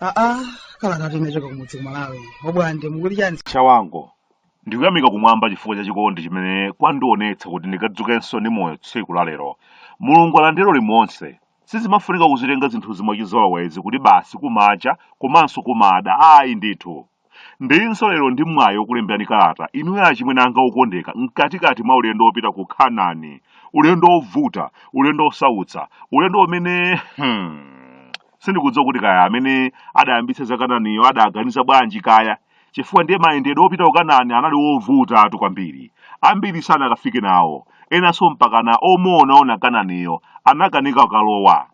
aa kalatatu inachoka kumudzi ku malawi obwande mukuti chani chawango ndikuyamika kumwamba chifukwa cha chikondi chimene kwandionetsa kuti ndikadzukenso ndi moyo tsiku la lero mulungu alandire ulemu onse Sizimafunika kuzitenga zinthuzi mwachizolowezi kuti basi kumacha komanso kumada ayi ndithu. Ndilinso lero ndi mwayi wokulemberani kalata inuyo achimwene anga okondeka mkatikati mwa ulendo wopita ku Kanani, ulendo wovuta, ulendo wosautsa, ulendo umene hmm, sindikudziwa kuti kaya amene adayambitsa za Kananiyo adaganiza bwanji kaya. chifukwa ndiye mayendedwe opita ku Kanani anali ovutatu kwambiri. Ambiri sanakafike nawo, enanso mpakana omwe anaona Kananiyo anakanika kukalowa.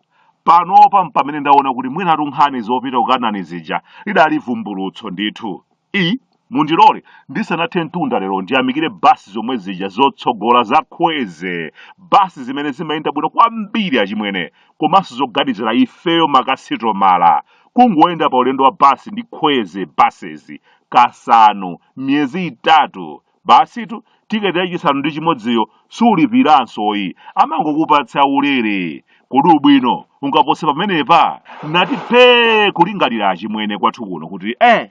Panopa mpamene ndaona kuti mwinatu nkhani zopita ku Kanani zija lidali vumbulutso ndithu. i Mundilole ndisanathe mtunda lero ndiyamikire basi zomwe zija zotsogola za Kwezy, basi zimene zimayenda bwino kwambiri achimwene, komanso zoganizira ifeyo makasitomala. Kungoyenda pa ulendo wa basi ndi Kwezy Buses kasanu m'miyezi itatu, basitu ticket ya chisanu ndi chimodziyo sulipiranso ayi, amangokupatsa ulere. Kodi ubwino ungapose pamenepa? Nati phee kulingalira achimwene kwathu kuno kuti eh!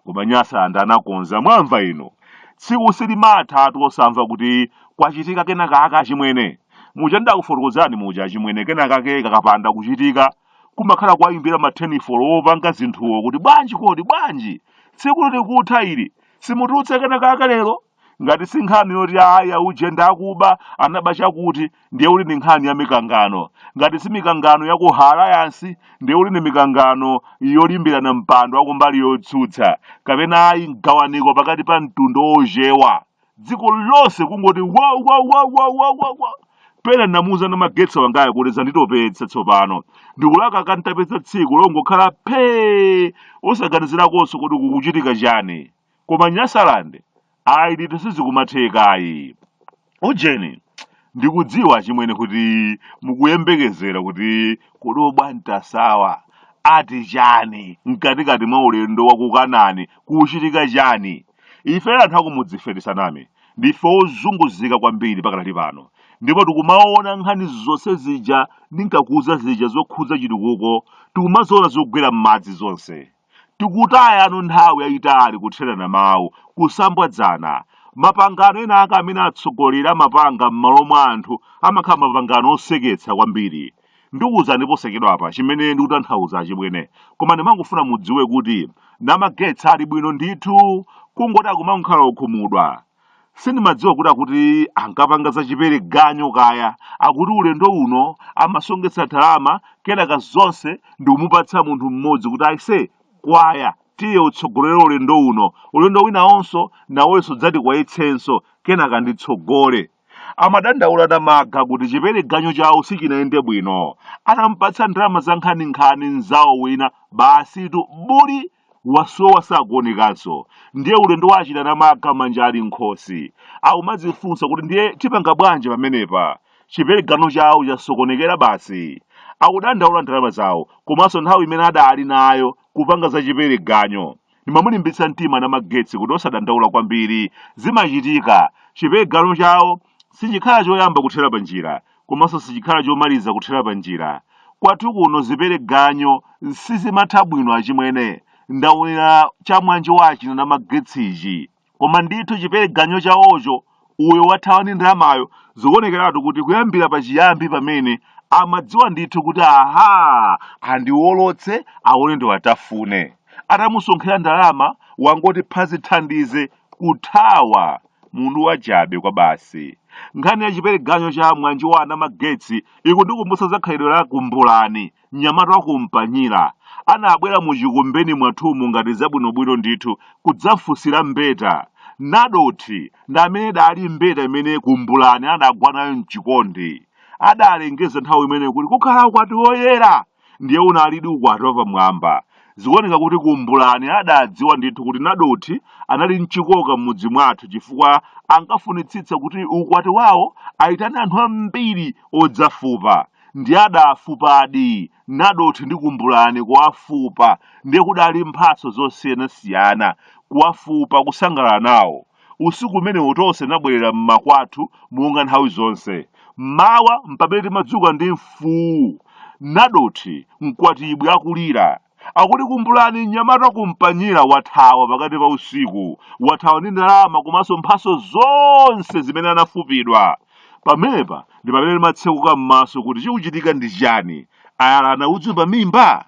Koma Nyasaland anakonza, mwamva inu! Tsiku silimathatu osamva kuti kwachitika kena kake achimwene. Muja ndidakufotokozani muja achimwene kena kake kakapanda kuchitika, kumakhala kuwayimbira ma thenifolo opanga zinthuwo kuti bwanji kodi, bwanji? Tsikutu likutha ili, simutulutsa kena kake lero? Ngati si nkhani yoti ayi auje ndi akuba, anaba chakuti, ndiye kuti ndi nkhani ya mikangano. Ngati si mikangano ya ku Alliance, ndiye kuti ndi mikangano yolimbirana mpando wa kumbali yotsutsa, kapena ayi mgawaniko pakati pa mtundu wa Ochewa. Dziko lonse kungoti wa wa wa wa wa wa wa. Pena ndinamuuza Namagetsi wangayo kuti zanditopetsa tsopano. Ndikulakalaka ntapeza tsiku longokhala phee osaganizirakonso kuti kukuchitika chani. koma nyasaland ayi ndithu sizikumatheka ayi ujeni ndikudziwa achimwene kuti mukuyembekezera kuti kodi obwantasawa ati chani mkatikati mwa ulendo wa kukanani kuchitika chani ife anthu akumudzife tisaname ndife ozunguzika kwambiri pakadali pano ndipo tikumaona nkhani zonse zija ndinkakuuza zija zokhudza chitukuko tikumaziona zogwera m'madzi zonse Tikutayana nthawi yayitali kutherana mawu, kusambwadzana. Mapangano enaake amene atsogoleri amapanga m'malo mwa anthu amakhala mapangano oseketsa kwambiri. Ndikuwuzani posachedwapa chimene ndikutanthawuza achimwene, koma ndimangofuna mudziwe kuti Namagetsa ali bwino ndithu, kungoti akumangokhala wokhumudwa. sindimadziwa kuti akuti ankapanga za chipereganyu kaya akuti ulendo uno amasongetsa ndalama kenaka zonse ndikumupatsa munthu mmodzi kuti aise gwa ya tiye utsogolere ulendo uno ulendo winawunso nawenso adzati kwayetsenso kenaka nditsogole amadandaula Anamaga kuti chipereganyu chawo sichinayende bwino atamupatsa ndalama za nkhaninkhani mzawo wina basitu buli Wasowa sakuonekanso. Ndiye ulendo wa achina Namaga manja ali m'nkhosi. Akumadzifunsa kuti ndiye tipanga bwanji pamenepa? Chipereganyu chawo chasokonekera basi. Akudandaula ndalama zawo komanso nthawi imene adali nayo kupanga za chipereganyu. Ndimamulimbitsa mtima Namagetsi kuti osadandaula kwambiri. Zimachitika. Chipereganyu chawo sichikhala choyamba kuthera panjira. komanso sichikhala chomaliza kuthera panjira kwathu kuno zipereganyu sizimatha bwino achimwene ndaonera cha mwanje wa achina Namagetsichi koma ndithu chipereganyu chawocho uyo wathawa ndi ndalamayo zikuonekeratu kuti kuyambira pachiyambi pamene amadziwa ndithu kuti aha andiwolotse aone ndiwatafune atamusonkhera ndalama wangoti phazi thandize kuthawa Munthu wachabe kwabasi. Nkhani ya chipereganyu cha Mwanji wa Anamagetsi ikundikumbutsa za khalidwe la Kumbulani, mnyamata wa ku Mpanyira. Anabwera mu chikumbeni mwathumu ngati zabwinobwino ndithu kudzafunsira mbeta. Nadothi ndi amene adali mbeta imene Kumbulani adagwa nayo m'chikondi. Adalengeza nthawi imeneyo kuti kukhala ukwati woyera! ndiye unalidi ukwati wapamwamba. Zikuoneka kuti Kumbulani adadziwa ndithu kuti Nadothi anali ndi chikoka m'mudzi mwathu chifukwa ankafunitsitsa kuti ukwati wawo aitane anthu ambiri odzafupa. Ndiye adafupadi Nadothi ndi Kumbulani kuwafupa ndiye kudali mphatso zosiyanasiyana, kuwafupa, kusangalala nawo. usiku umenewo tonse tinabwerera m'makwathu monga nthawi zonse mmawa mpamene timadzuka ndi mfuwu nadothi mkwatibwi akulira akuti kumbulani mnyamata wa ku Mpanyira wathawa pakati pa usiku wathawa ndi ndalama komanso mphatso zonse zimene anafupidwa pamenepa ndi pamene timatsekuka m'maso kuti chikuchitika ndi chiyani ayala anaudzu pa mimba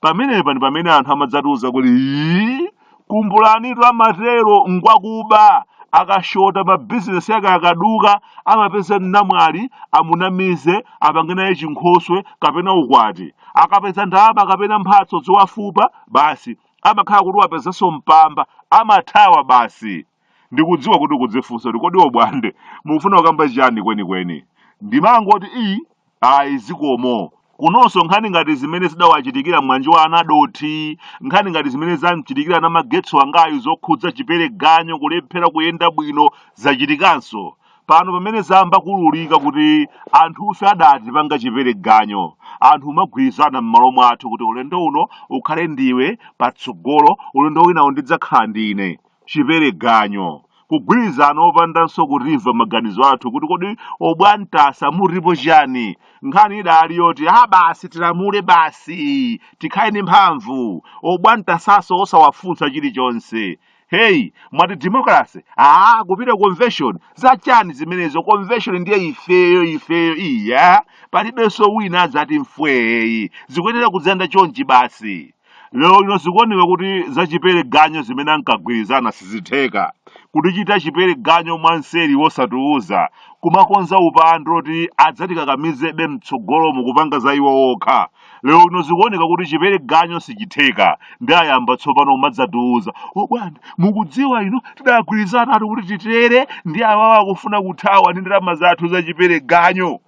pamenepa ndi pamene anthu amadzatiuza kuti "Ii, kumbulanitu amatero ngwakuba akashota mabizinesi yake akaduka amapeza namwali amunamize apange naye chinkhoswe kapena ukwati akapeza ndalama kapena mphatso zowafupa basi amakhala kuti wapezanso mpamba amathawa basi ndikudziwa kuti kudzifunsa kuti kodi Obwande mukufuna kukamba chani kwenikweni ndimangoti iyi Ayi zikomo. Kunonso nkhani ngati zimene zidawachitikira mwana wa Anadothi, nkhani ngati zimene zam'chitikira Namagetsi wangayu zokhudza Chipereganyo kulephera kuyenda bwino zachitikanso. Pano pamene zayamba kuululika kuti anthufe adatipanga Chipereganyo, anthu umagwirizana mmalo mwathu kuti ulendo uno ukhale ndiwe patsogolo, ulendo winawo ndidzakhala ndine. chipereganyo, kugwirizana opandanso kutimva maganizo athu kuti kodi obwantasa mutipo chani nkhani idali yoti ah basi tilamule basi tikhale ndi mphamvu obwantasaso osawafunsa chilichonse hey mwati democracy ah kupita convention za chani zimenezo convention ndiye ifeyo ifeyo iya palibenso wina adzati mfweyi zikuyenera kudzayenda chonchi basi Lero lino zikuoneka kuti za chipereganyo zimene ankagwirizana sizitheka. Kutichita chipereganyo mwanseri wosatiuza, kumakonza upandu oti adzatikakamizebe mtsogolomu kupanga za iwo wokha. Lero lino zikuoneka kuti chipereganyo sichitheka, ndiye ayamba tsopano kumadzatiuza, Obwande, mukudziwa inu, tidagwirizanatu kuti titere, ndiye awawa akufuna kuthawa ndi ndalama zathu za chipereganyo.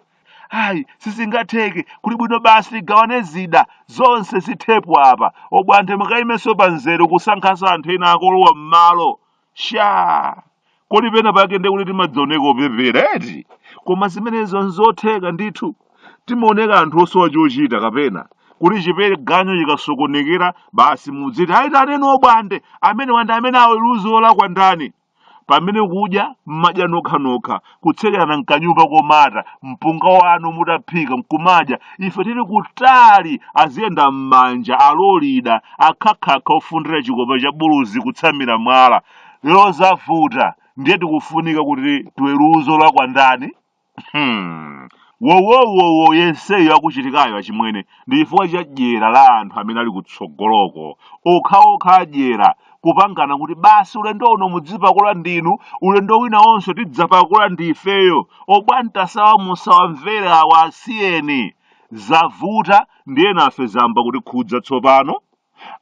ayi sizingatheke kuli bwino basi tigawane zida zonse zithepo apa Obwande mukayimenso pamzere kusankhanso anthu ena akolowa m'malo sha kodi pena pake ndiye kuti timadzioneka opepera eti koma zimenezo nzotheka ndithu timaoneka anthu osowa chochita kapena kuti chipereganyo chikasokonekera basi mudziti ayitaneni Obwande amene wandi amene aweruze olakwa ndani pamene kudya mmadya nokhanokha kutsekerana mkanyumba komata mpunga wanu mutaphika mkumadya ife tili kutali aziyenda mmanja alolida akhakhakha ofundira chikopa cha buluzi kutsamira mwala lero zavuta ndiye tikufunika kuti tiweruze olakwa ndani Hmm. wowowowo yenseyo akuchitikayo achimwene ndi chifukwa cha dyera la anthu amene ali kutsogoloko okhaokha adyera kupangana kuti basi ulendo uno mudzipakula ndinu ulendo winawonso tidzapakula ndi ifeyo obwantasawa musawamvere awa asiyeni zavuta ndiye nafe zayamba kutikhudza tsopano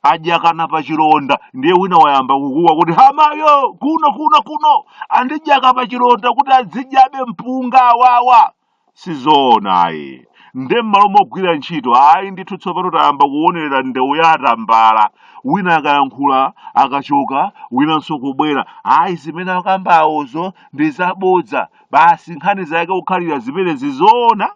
adyakana pa chilonda ndiye wina wayamba kukuwa kuti hamayo kuno kuno andidyaka pa chilonda kuti adzidyabe mpunga awawa sizoona ayi nde m'malo mogwira ntchito ayi ndithu tsopano tayamba kuonera ndewu ya atambala wina akayankhula akachoka winanso kubwera ayi zimene akambawozo ndi zabodza basi nkhani zake kukhalira zimene zizoona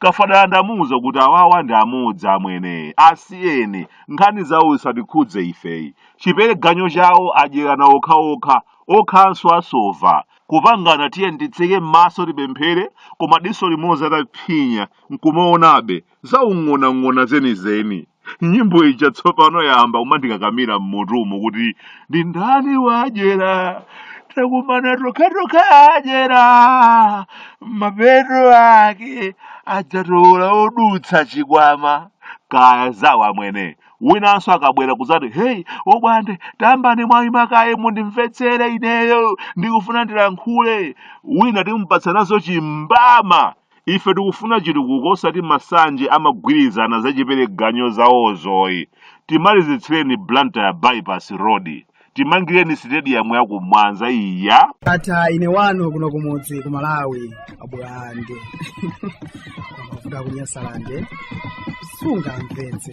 Kafadala ndamuuza kuti awawa ndi amodzi amwene, asiyeni, nkhani zawo zisatikhudze ifeyi. Chipereganyo chawo adyerana okhaokha, okhaanso asova. Kupangana tiyeni titseke m'maso tipemphere koma diso limodzi ataphinya nkumaonabe, zaung'onong'ono zenizeni. nyimbo ija tsopano yamba kumandikakamira mmutumu kuti ndi ndani wadyera takumana tokhatokha adyera mapeto ake adzatola odutsa chikwama kaya zawo amwene winanso akabwera kuzati heyi abwande tambani mwaima kaye mundimvetsere ineyo ndikufuna ndilankhule wina timupatsanazo chimbama Ife tikufuna chitukuko osati masanje amagwirizana zachipereganyo zawozoyi. Timalizitsireni Blantyre Bypass Road. Timangireni sitediyamu ya ku Mwanza ija. Atha ine wanu kuno kumudzi ku Malawi abwande amavu a ku Nyasalande sungamvetse